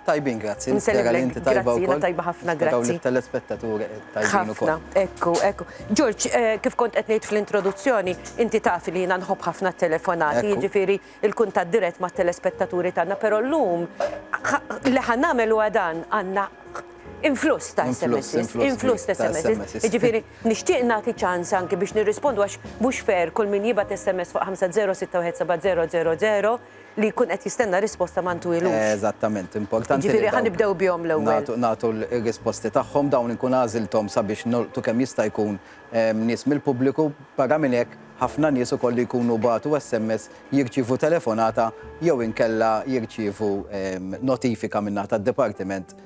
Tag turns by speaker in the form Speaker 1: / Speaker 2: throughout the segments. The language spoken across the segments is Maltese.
Speaker 1: Tajbin grazzi, nispera li inti tajba wkoll. Nsellimlek, grazzi, jiena tajba ħafna, grazzi. Nisperaw li t-telespettaturi tajbin ukoll. Ħafna, ekku, ekku. George, kif kont qed ngħid fl-introduzzjoni, inti taf li jiena nħobb ħafna t-telefonati, jiġifieri l-kuntatt dirett mat-telespettaturi tagħna, però llum li ħa nagħmel huwa dan, għandna influss ta' SMS, influss ta' SMS. Jiġifieri nixtieq nagħti ċans anki biex nirrispondu għax mhux fair kull min jibgħat SMS fuq 506177000, li jkun qed jistenna risposta ma ntwilux. Eżattament, importanti. Jiġifieri ħa nibdew bihom l-ewwel. Nagħtu r-risposti tagħhom, dawn inkun għażilthom sabiex nolqtu kemm jista' jkun nies mill-pubbliku, barra minn hekk ħafna nies ukoll li jkunu bagħtu SMS jirċievu telefonata jew inkella jirċievu notifika min-naħa tad-dipartiment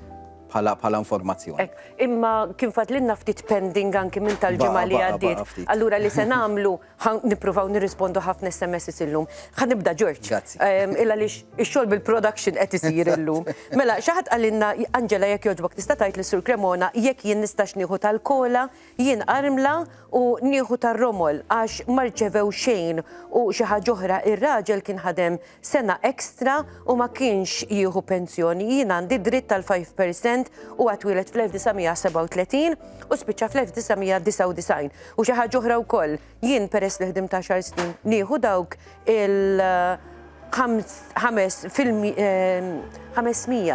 Speaker 1: bħala informazzjoni. Hekk, imma kien fadlilna ftit pending anki minn tal-ġimgħa li għaddiet. Allura li se nagħmlu Ħa nippruvaw nirrispondu ħafna SMSs illum. Ħa nibda Ġorġ. Grazzi. Ehm, Illa li x-xogħol bil-production qed isir illum. Mela, xi ħadd qalilna Angela jekk jogħġbok tista' tgħid li Sur Cremona jekk jien nistax nieħu tal-kola, jien armla u nieħu tar-romol għax ma rċevew xejn u xi ħaġa oħra ir-raġel kien ħadem sena extra u ma kienx jieħu pensjoni, jien għandi dritt tal 5% u għatwilet fl-1937 u spiċċa fl-1999. U xi ħaġa oħra wkoll, jien peress li ħdim ta' xar snin nieħu dawk il- 500 eh,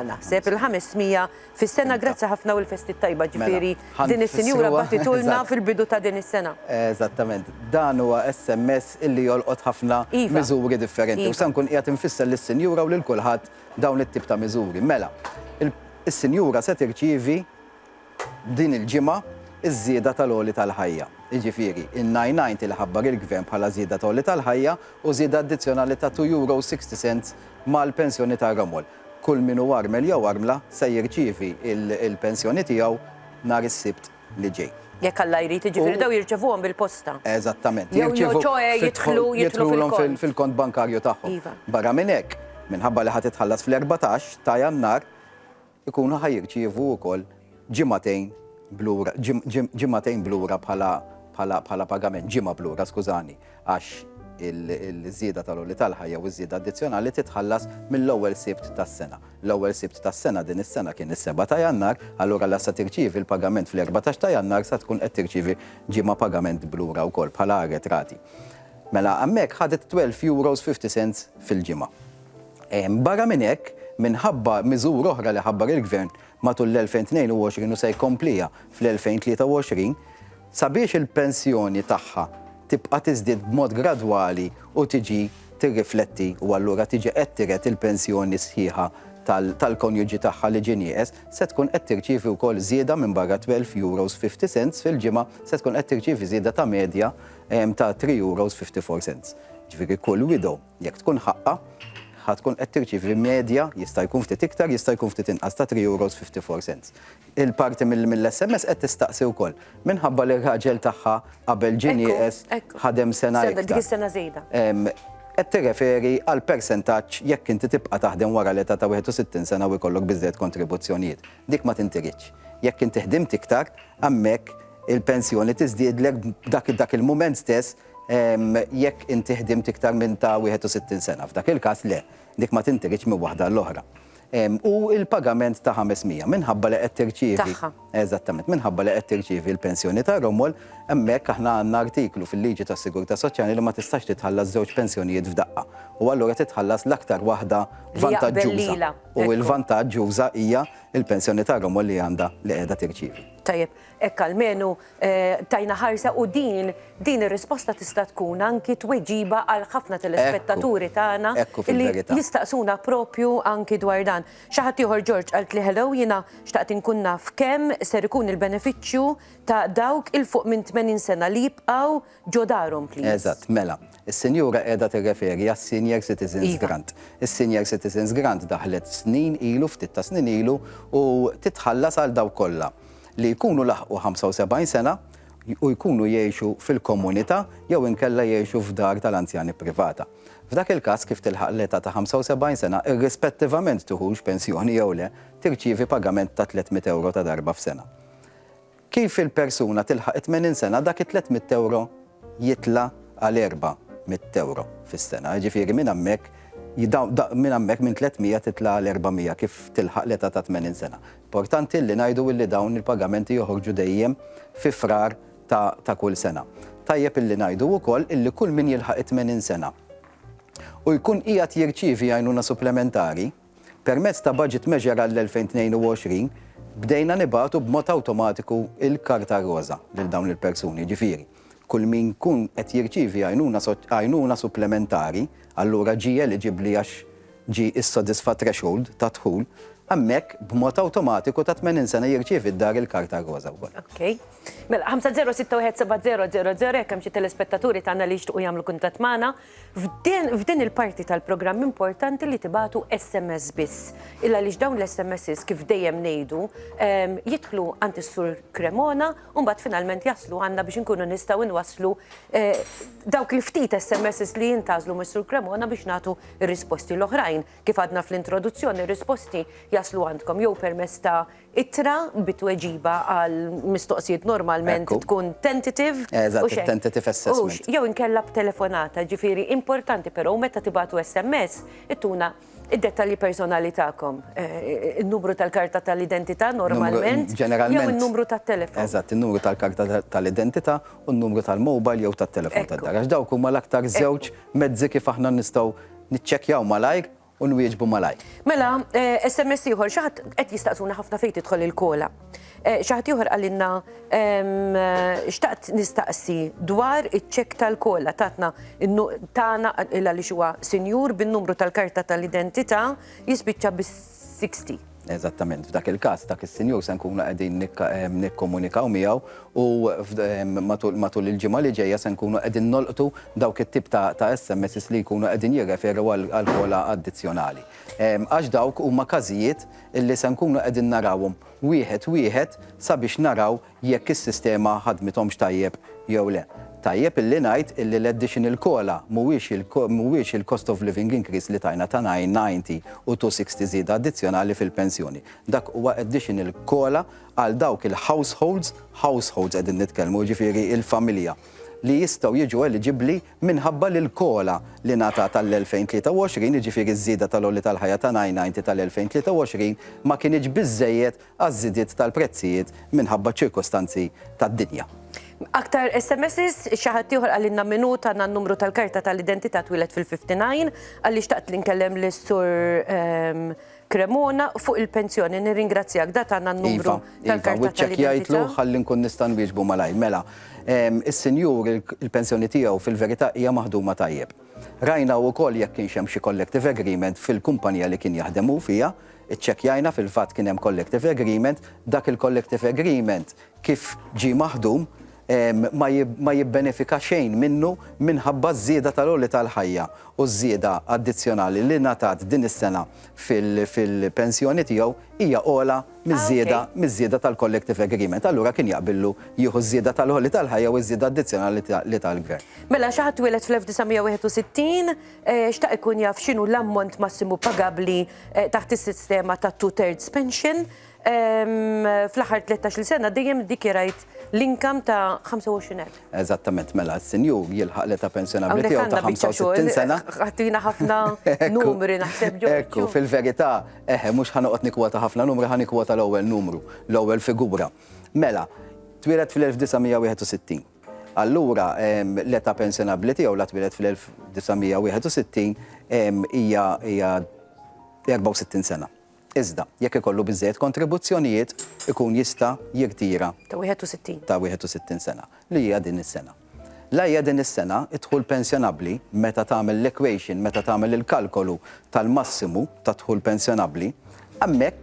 Speaker 1: naħseb il-500 Fis-sena, grazzi ħafna u l-festi t-tajba, mela, ġifieri din is-sinjura batitulna fil-bidu ta' din is-sena. Eżattament, dan huwa SMS illi jolqot ħafna iva. miżuri differenti. U iva. se nkun qiegħed infisser lis-sinjura u lil kulħadd dawn it-tip ta' miżuri. Mela, is-sinjura se tirċievi din il-ġimgħa iż-żieda tal-għoli tal-ħajja. Jiġifieri, in-99 li ħabbar il-Gvern bħala żieda tal-għoli tal-ħajja u żieda addizzjonali ta' 2 euro 60 cents mal-pensjoni tar-ramol. Kull min hu armel jew armla se jirċievi l-pensjoni tiegħu nhar is-Sibt li ġej. Jekk Alla jrid, jiġifieri dawn jirċevuhom bil-posta. Eżattament. Jirċevu, jidħlulhom fil-kont bankarju tagħhom. Barra minn hekk, minħabba li ħa titħallas fl-erbatax ta' Jannar, ikunu ħa jirċievu wkoll ġimagħtejn b'lura, ġimagħtejn b'lura bħala pagament, ġimgħa b'lura, skużani, għax il-żieda tal-għoli tal-ħajja jew iż-żieda addizzjonali titħallas mill-ewwel Sibt tas-sena. L-ewwel Sibt tas-sena din is-sena kien is-Sebgħa ta' Jannar, allura la sa tirċievi l-pagament fl-erbatax ta' Jannar sa tkun qed tirċievi ġimgħa pagament b'lura wkoll bħala arretrati. Mela hemmhekk ħadet €12.50 fil-ġimgħa. Barra minn hekk, minħabba miżura oħra li ħabbar il-Gvern matul l-2022 u se jkompliha fl-2023, sabiex il-pensjoni tagħha tibqa' tiżdied b'mod gradwali u tiġi tirrifletti u allura tiġi qed tiret il-pensjoni sħiħa tal-konjuġi tagħha li ġie nieqes, se tkun qed tirċievi wkoll żieda minbarra t-12.50 euros fil-ġimgħa, se tkun qed tirċievi żieda ta' medja ta' 3.54 euros. Jiġifieri kull widow. Jekk tkun ħaqqha, ħa tkun qed tirċievi medja, jista' jkun ftit iktar, jista' jkun ftit inqas, ta' 3 euros 54 cents. Il-parti mill-SMS qed tistaqsi wkoll, minħabba li r-raġel tagħha qabel ġie nieqes ħadem sena iktar. Dik is-sena żejda. Qed tirreferi għal persentaġġ jekk inti tibqa' taħdem wara l-età ta' 61 sena u jkollok biżżejjed kontribuzzjonijiet. Dik ma tintiridx. Jekk inti ħdimt iktar, hemmhekk il-pensjoni tiżdiedlek dak il-mument stess jekk inti ħdimt iktar minn ta' 61 sena. F'dak il-każ le, dik ma tinteridx minn waħda għall-oħra. U l-pagament ta' 500 minħabba li qed tirċievi. Tagħha. Eżattament, minħabba li qed tirċievi l-pensjoni ta' Romol, hemmhekk aħna għandna artiklu fil-liġi tas-sigurtà soċjali li ma tistax titħallas żewġ pensjonijiet f'daqqa. U allura titħallas l-aktar waħda vantaġġuża. U l-vantaġġuża hija l-pensjoni ta' Romol li għandha li qiegħda tirċievi. Tajjeb, Hekk almenu tajna ħarsa u din din ir-risposta tista' tkun anki tweġiba għal ħafna telespettaturi tagħna li jistaqsuna proprju anki dwar dan. Xi ħadd ieħor George qaltli hello jiena xtaqt inkun naf kemm ser ikun il-benefiċċju ta' dawk 'il fuq minn 80 sena li jibqgħu Ġo darhom please. Eżatt, mela, is-sinjura qiegħda tirreferi għas-Senior Citizens Grant. Iva. Is-Senior Citizens Grant daħlet snin ilu, ftit ta' snin ilu, u titħallas għal dawk kollha li jkunu laħqu 75 sena u jkunu jgħixu fil-komunità jew inkella jgħixu f'dar tal-anzjani privata. F'dak il-każ, kif tilħaq l-età ta' 75 sena, irrispettivament tieħux pensjoni jew le, tirċievi pagament ta' 300 ewro ta' darba f'sena. Kif il-persuna tilħaq it-tmenin sena dak it-tliet mitt ewro jitla' għal erba' mitt ewro fis-sena. Jiġifieri minn hemmhekk minn hemmhekk minn tliet mija titla' għal erba' mija kif tilħaq l-età ta' tmenin sena. Importanti illi ngħidu illi dawn il-pagamenti joħorġu dejjem fi Frar ta' ta' kull sena. Tajjeb illi ngħidu wkoll illi kull min jilħaq it-tmenin sena u jkun qiegħed jirċievi għajnuna supplementari, Permezz ta' Budget Measure għall-2022 bdejna nibagħtu b'mod awtomatiku l-Karta Roża lil dawn il-persuni, jiġifieri kull min jkun qed jirċievi għajnuna supplementari allura ġie eliġibbli għax ġie issodisfa threshold ta' dħul, hemmhekk b'mod awtomatiku ta' 80 sena jirċievi d-dar il-Karta Roża wkoll. Ok. Mela, 50617000 jekk hemm xi telespettaturi tagħna li jixtiequ jagħmlu kuntatt magħna. F'din il-parti tal-programm importanti li tibagħtu SMS biss, il għaliex dawn l-SMSs kif dejjem ngħidu jidħlu għand is-Sur Cremona u mbagħad finalment jaslu għandna biex inkunu nistgħu nwasslu dawk il-ftit SMSs li jintgħażlu mis-Sur Cremona biex nagħtu r-risposti l-oħrajn. Kif għadna fl-introduzzjoni, ir-risposti jaslu għandkom jew permezz ta' Ittra bi tweġiba għal mistoqsijiet normalment Ekku. tkun tentative. Eżatt, u xejn. it-tentative Hux, assessment. jew inkella b'telefonata, ġifieri importanti però meta tibagħtu SMS ittuna d-dettalji personali tagħkom. Eh, In-numru tal-karta tal-identità normalment jew ġeneralment. in-numru tat-telefon. Eżatt, in-numru tal-karta ta- tal-identità u n-numru tal-mobile jew tat-telefon Ekku. tad-dar. Għax dawk huma l-aktar żewġ mezzi kif aħna nistgħu niċċekkjaw malajr u nwieġbu malajr. Mela, SMS eh, ieħor, xi ħadd qed jistaqsuna ħafna fejn tidħol il-kola. Eh, xi ħadd ieħor qalilna eh, xtaqt nistaqsi dwar iċ-ċek tal-kola tatna tagħna għaliex huwa sinjur bin-numru tal-karta tal-identità jispiċċa bis-60. Eżattament. F'dak il-każ, dak is-sinjur se nkunu qegħdin nikkomunikaw miegħu u matul il-ġimgħa li ġejja se nkunu qegħdin nolqtu dawk it-tip ta' SMSs li jkunu qegħdin jirreferu għal ħola addizzjonali. Għax dawk huma każijiet li se nkunu qegħdin narawhom wieħed wieħed sabiex naraw jekk is-sistema ħadmithomx tajjeb jew le. Tajjeb illi ngħid illi l-additional cola mhuwiex il-cost of living increase li tajna ta' 990 u 260 żieda addizzjonali fil-pensjoni. Dak huwa additional cola għal dawk il-households, households qegħdin nitkellmu, jiġifieri l-familja, li jistgħu jiġu eliġibbli minħabba li l-cola li ngħatat għall-2023, jiġifieri ż-żieda tal-għoli tal-ħajja ta' 990 tal-2023, ma kinitx biżżejjed għaż-żidiet tal-prezzijiet minħabba ċ-ċirkostanzi tad-dinja. Aktar SMSs, xi ħadd ieħor qalilna minhu tana n-numru tal-karta tal-identità twieled fil-59, għalli xtaqt li nkellem lis-Sur ehm, Cremona fuq il-pensjoni. Nirringrazzjak da tana n-numru iva, iva, tal-karta tal-identità. Iva, wiċċek jgħidlu ħalli nkun nista' nwieġbu malaj. Mela, ehm, is-sinjur il-pensjoni tiegħu fil-verità hija maħduma tajjeb. Rajna wkoll jekk kienx hemm xi collective agreement fil-kumpanija li kien jaħdem hu fiha, Iċċekkjajna fil-fatt kien hemm collective agreement, dak il-collective agreement kif ġie maħdum ma jibbenefika xejn minnu minħabba ż-żieda tal-għoli tal-ħajja u ż-żieda addizzjonali li ngħatat din is-sena fil-pensjoni tiegħu hija ogħla miż-żieda tal-collective agreement. Allura kien jaqbillu jieħu ż-żieda tal-għoli tal-ħajja u ż-żieda addizzjonali li ta l-Gvern. Mela xi ħadd twieled fl-1961, xtaq ikun jaf x'inhu l-ammont massimu pagabbli taħt is-sistema ta' two thirds pension fl-aħħar 13 sena dejjem dikjerajt l-inkam ta' 25,000. Eżattament, mela s-senjur jilħaq l-età pensjonabli tiegħu ta' 65 sena. Ħatina ħafna numri naħseb ġo. Ekku, fil-verità, eħe, mhux ħanoqgħod nikwota ħafna numri, ħanikwota l-ewwel numru, l-ewwel figura. Mela, twieled fl-1961. Allura, l-età pensjonabbli tiegħu la twieled fl-1961 hija 64 sena. Iżda, jekk ikollu biżżejjed kontribuzzjonijiet, ikun jista' jirtira. Ta' 61. Ta' 61 sena, li hija din is-sena. La hija din is-sena, id-dħul pensjonabbli, meta tagħmel l-equation, meta tagħmel il-kalkolu tal-massimu tad-dħul pensjonabbli, hemmhekk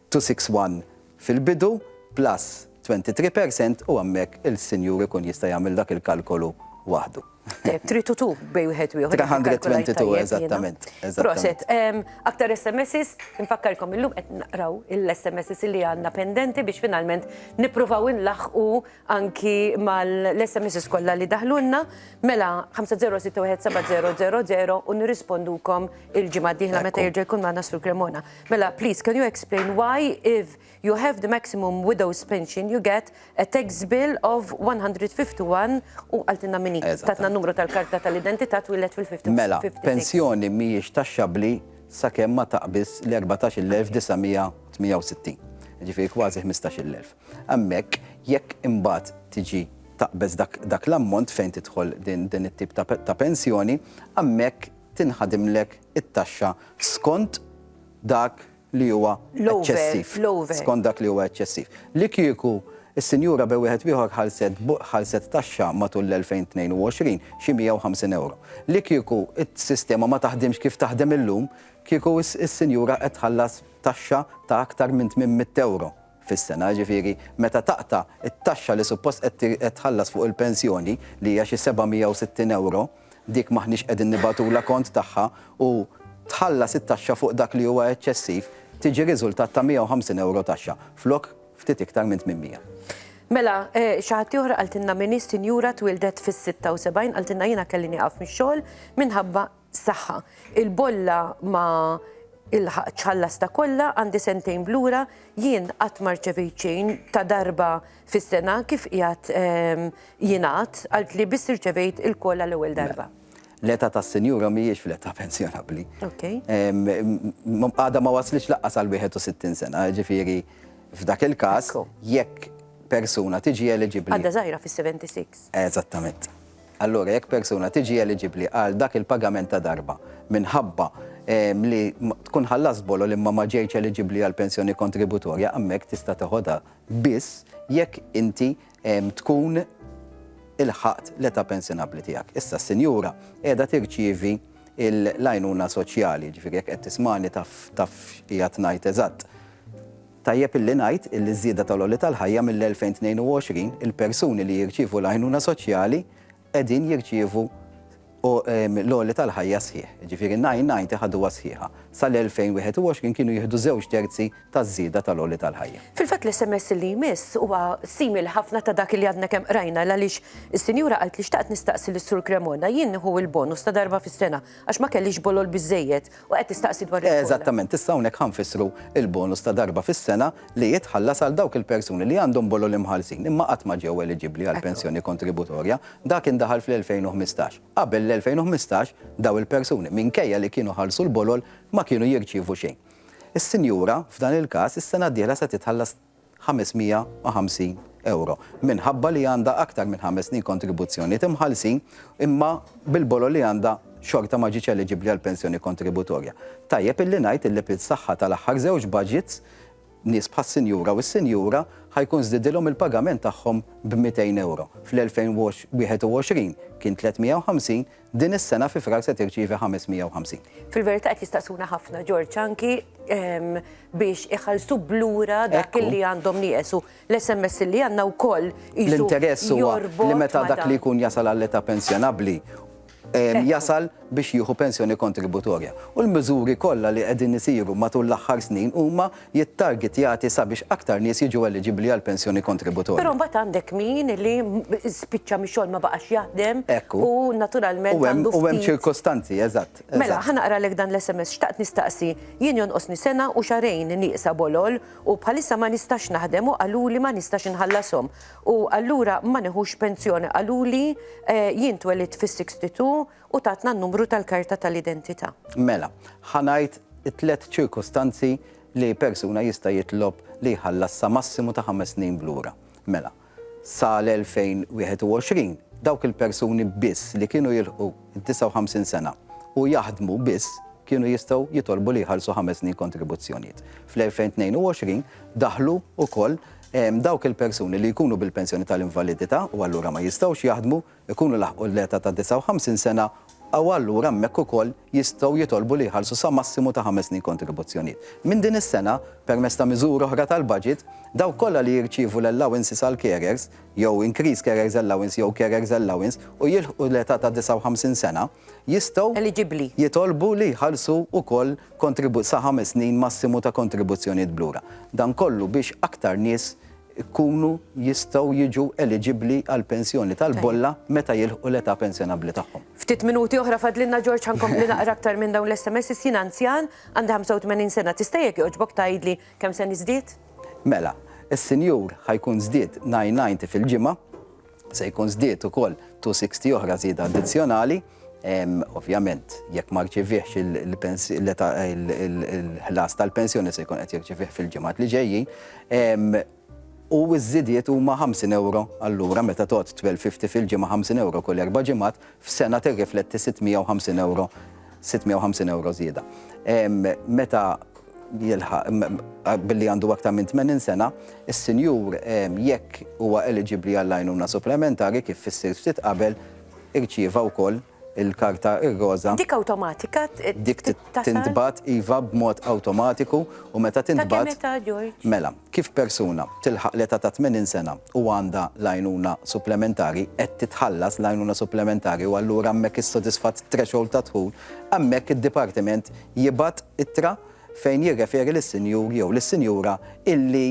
Speaker 1: 261 fil-bidu plus 23 percent u hemmhekk il-Sinjur ikun jista' jagħmel dak il-kalkolu waħdu. Tajjeb, trid u tu bej wieħed u ieħor. 322 eżattament. Proset, aktar SMSs, infakkarkom illum qed naqraw il-SMSs li għandna pendenti biex finalment nippruvaw inlaħqu anki mal-SMSs kollha li daħlulna, mela 50617000 u nirrispondukom il-ġimgħa d-dieħla meta jerġa' jkun magħna Sur Cremona. Mela, please, can you explain why if you have the maximum widow's pension you get a tax bill of 151 u qaltilna min hi. Tatna n-numru tal-karta tal-identità twieled fil-56. Mela, pensjoni mhijiex taxxabbli sakemm ma taqbiżx l-14,968, jiġifieri kważi 15,000. Hemmhekk jekk imbagħad tiġi taqbeż dak l-ammont fejn tidħol din it-tip ta' pensjoni, hemmhekk tinħadimlek it-taxxa skont dak li huwa eċċessiv. L-over. Skont dak li huwa eċċessiv. Li kieku s-sinjura bi wieħed ieħor ħalset taxxa matul l-2022 xi 150 ewro. Li kieku s-sistema ma taħdimx kif taħdem illum, kieku s-sinjura qed tħallas taxxa ta' aktar minn 800 ewro. fis-sena, jiġifieri meta taqta' t-taxxa li suppost qed tħallas fuq il-pensjoni li hija xi 760 ewro, dik m'aħniex qegħdin nibagħtulha kont tagħha u tħallas it-taxxa fuq dak li huwa eċċessiv, tiġi riżultat ta' 150 ewro taxxa flok ftit iktar minn 800. Mela, xi ħadd ieħor qaltilna min hi sinjura twieldet fis-76, qaltilna jiena kelli nieqaf mix-xogħol minħabba Saħħa. Il-bolla ma ilħaqtx ħallasta kollha, għandi sentejn b'lura, jien qatt ma rċevejt xejn ta' darba fis-sena kif qiegħed jingħad, għalt li biss irċevejt il-call għal ewwel darba. L-età tas-sinjura mhijiex fl-età pensjonabbli. Għadha ma waslitx lanqas għal 61 sena, jiġifieri f'dak il-każ jekk persuna tiġi eliġibbli. Għadha żgħira fis-76. Eżattament. Allura jekk persuna tiġi eliġibbli għal dak il-pagament ta' darba minħabba li tkun ħallast bolol imma ma ġejtx eliġibbli għall-pensjoni kontributorja, hemmhekk tista' teħodha biss jekk inti tkun ilħaqt l-età pensjonabbli tiegħek. Issa s-sinjura qiegħda tirċievi l-għajnuna soċjali, jiġifieri jekk qed tismagħni taf taf x'qiegħed ngħid eżatt. Tajjeb illi ngħid illi ż-żieda tal-għoli tal-ħajja mill-2022 il-persuni li jirċievu l-għajnuna soċjali qegħdin jirċievu l-għoli tal-ħajja sħiħ, jiġifieri n-990 ħaduha sħiħa. Sal-2021 kienu jieħdu żewġ terzi taż-żieda tal-għoli tal-ħajja. Fil-fatt l-SMS li jmiss huwa simili ħafna ta' dak li għadna kemm qrajna l-għaliex is-sinjura qaltli xtaqt nistaqsi lis-Sur Cremona jien nieħu l-bonus ta' darba fis-sena għax ma kellix bolol biżżejjed U qed tistaqsi dwar il-bonus. Eżattament, issa hawnhekk ħa nfissru l-bonus ta' darba fis-sena li jitħallas għal dawk il-persuni li għandhom bololi mħallsin imma qatt ma ġew eliġibbli għal pensjoni kontributorja. Dak indaħal fl-2015. Qabel l-2015, dawn il-persuni, minkejja li kienu ħallsu l-bolol, ma kienu jirċievu xejn. Is-sinjura, f'dan il-każ, is-sena d-dieħla se titħallas. 550 ewro, minħabba li għandha aktar minn ħames snin kontribuzzjonijiet imħallsin, imma bil-bolol li għandha xorta ma ġietx eliġibbli għall-pensjoni kontributorja. Tajjeb illi ngħid illi bis-saħħa tal-aħħar żewġ budgets, nies bħas-sinjura u s-sinjura ħa jkun żdiedilhom il-pagament tagħhom b' 200 ewro. Fl-2021 kien 350, Din is-sena fi Frar se tirċievi 550. Fil-verità qed jistaqsuna ħafna Ġorġ anki ehm, biex iħallsu blura dak li għandhom nieqesu. L-SMS li għandna wkoll L-interess huwa li meta dak li jkun jasal għall-età pensjonabbli ehm, jasal biex jieħu pensjoni kontributorja. U l-miżuri kollha li qegħdin isiru matul l-aħħar snin huma jittargetjati sabiex aktar nies jiġu eliġibbli għal pensjoni kontributorja. Però mbagħad għandek min li spiċċa mix-xogħol ma baqax jaħdem u naturalment għandu ftit. U hemm ċirkostanzi, eżatt. Mela, ħa naqralek dan l-SMS, xtaqt nistaqsi, jien jonqosni sena u xahrejn nieqsa bolol u bħalissa ma nistax naħdem u qaluli ma nistax inħallashom u allura ma nieħux pensjoni qaluli jien twelidt fis-62 u tatna n-numru tal-karta tal-identità. Mela, ħa ngħid it-tliet ċirkustanzi li persuna jista' jitlob li jħallas sa massimu ta' ħames snin b'lura. Mela, sal-2021, dawk il-persuni biss li kienu jilħqu d-59 sena u jaħdmu biss kienu jistgħu jitolbu li jħallsu ħames snin kontribuzzjonijiet. Fl-2022 daħlu wkoll dawk il-persuni li jkunu bil-pensjoni tal-invalidità u allura ma jistgħux jaħdmu, ikunu laħqu l-eta' ta' 59 sena u allura hemmhekk ukoll jistgħu jitolbu li jħallsu sa massimu ta' ħames snin kontribuzzjonijiet. Minn din is-sena, permezz ta' miżuri oħra tal-baġit, dawk kollha li jirċievu l-allowances għall-carers, jew increased carers allowance jew carers allowance, u jilħqu l-eta' ta' 59 sena, jistgħu jitolbu li jħallsu ukoll sa ħames snin massimu ta' kontribuzzjonijiet b'lura. Dan kollu biex aktar nies ikunu jistgħu jiġu eliġibbli għall-pensjoni tal-bolla meta jilħqu l-età pensjonabbli tagħhom. Ftit minuti oħra fadlilna George ħa nkompli naqra aktar minn dawn l-SMSs jien anzjan għandi 85 sena tista' jekk jogħġbok tgħidli kemm se niżdied? Mela, is-sinjur ħa jkun żdied nine ninety fil-ġimgħa. Se jkun żdied ukoll 260 oħra żieda addizzjonali, ovvjament jekk ma rċiviex il-ħlas tal-pensjoni se jkun qed jirċivih fil-ġimgħat li ġejjin. U ż-żidiet huma 50 euro allura meta tgħodd 1250 fil-ġimgħa 50 euro kull erba' ġimgħat, f'sena tirrifletti 650 euro żieda. Meta jilħaq billi għandu aktar minn 80 sena, is-sinjur, jekk huwa eliġibbli għall-għajnuna supplementari kif fissirt ftit qabel, irċieva wkoll il-karta ir-roża. Dik awtomatika tittasal? Dik tintbagħat iva b'mod awtomatiku u meta tintbagħat. Ta' kemm età, George? Mela, kif persuna tilħaq l-età ta' 80 sena u għandha l-għajnuna supplementari, qed titħallas l-għajnuna supplementari u allura hemmhekk issodisfat threshold ta' dħul, hemmhekk id-dipartiment jibgħat ittra fejn jirreferi lis-sinjur jew lis-sinjura illi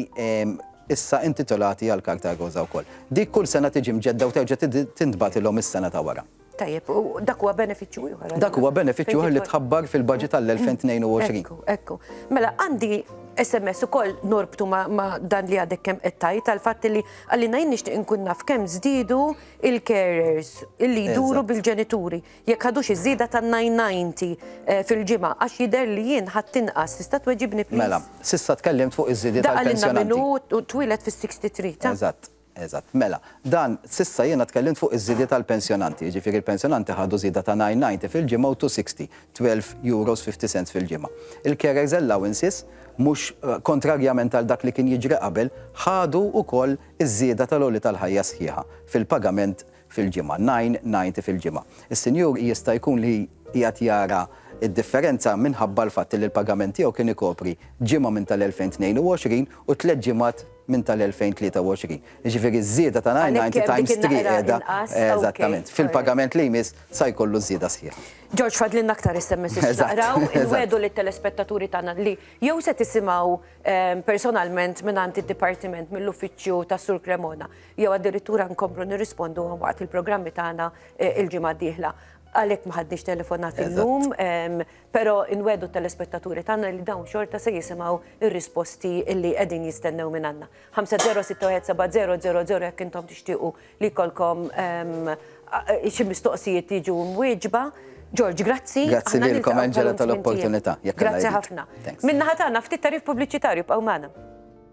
Speaker 1: issa intitolati għall-Karta Roża wkoll. Dik kull sena tiġi mġedda u terġa' tintbagħtilhom is-sena ta' wara. Tajjeb, u dak huwa benefiċċju ieħor. Dak huwa benefiċċju ieħor li tħabbar fil-budget għall-2022. Ekku, ekku. Mela għandi SMS ukoll norbtu ma' dan li għadek kemm qed tgħid għall-fatt li għalina jien nixtieq inkun naf kemm żdiedu il-carers illi jduru bil-ġenituri. Jekk ħadux iż-żieda ta' nine ninety fil-ġimgħa għax jidher li jien ħadt inqas, tista' tweġibni please? Mela, s'issa tkellimt fuq iż-żidiet għall-pensjonanti. Daqqa lilna min hu twieled fis-sixty three ta'. Eżatt, eżatt. Mela, dan, s'issa jiena tkellimt fuq iż-żidiet għall-pensjonanti, jiġifieri l-pensjonanti ħadu żieda ta' nine ninety fil-ġimgħa u two sixty, twelve euros fifty cents fil-ġimgħa. Il-carers' allowances, mhux kontrarjament għal dak li kien jiġri qabel, ħadu wkoll iż-żieda tal-għoli tal-ħajja sħiħa fil-pagament fil-ġimgħa, nine ninety fil-ġimgħa. Is-sinjur jista' jkun li qiegħed jara d-differenza minħabba l-fatt li l-pagament tiegħu kien ikopri ġimgħa minn tal-2022 u tliet ġimgħat minn tal-2023. Jiġifieri ż-żieda ta' nine ninety times three qiegħda eżattament. Fil-pagament li jmiss sa jkollu ż-żieda sħiħa. George fadlilna aktar SMS biex naqraw. Inwiegħdu lit-telespettaturi tagħna li jew se tisimgħu personalment mingħand id-dipartiment mill-uffiċċju tas-Sur Cremona jew addirittura nkomplu nirrispondu waqt il-programmi tagħna eh, il-ġimgħa d-dieħla. Għalhekk ma ħadniex telefonat illum, ehm, però inwedu telespettaturi tagħna li dawn xorta se jisimgħu ir-risposti li qegħdin jistennew minn għandna. 50617000 jekk intom tixtiequ li kolkom ehm, xi mistoqsijiet jiġu mwieġba. George, grazzi. Grazzi lilkom Angela tal-opportunità. Grazzi ħafna. Minna ħatana ftit tarif pubbliċitarju b'għawmana.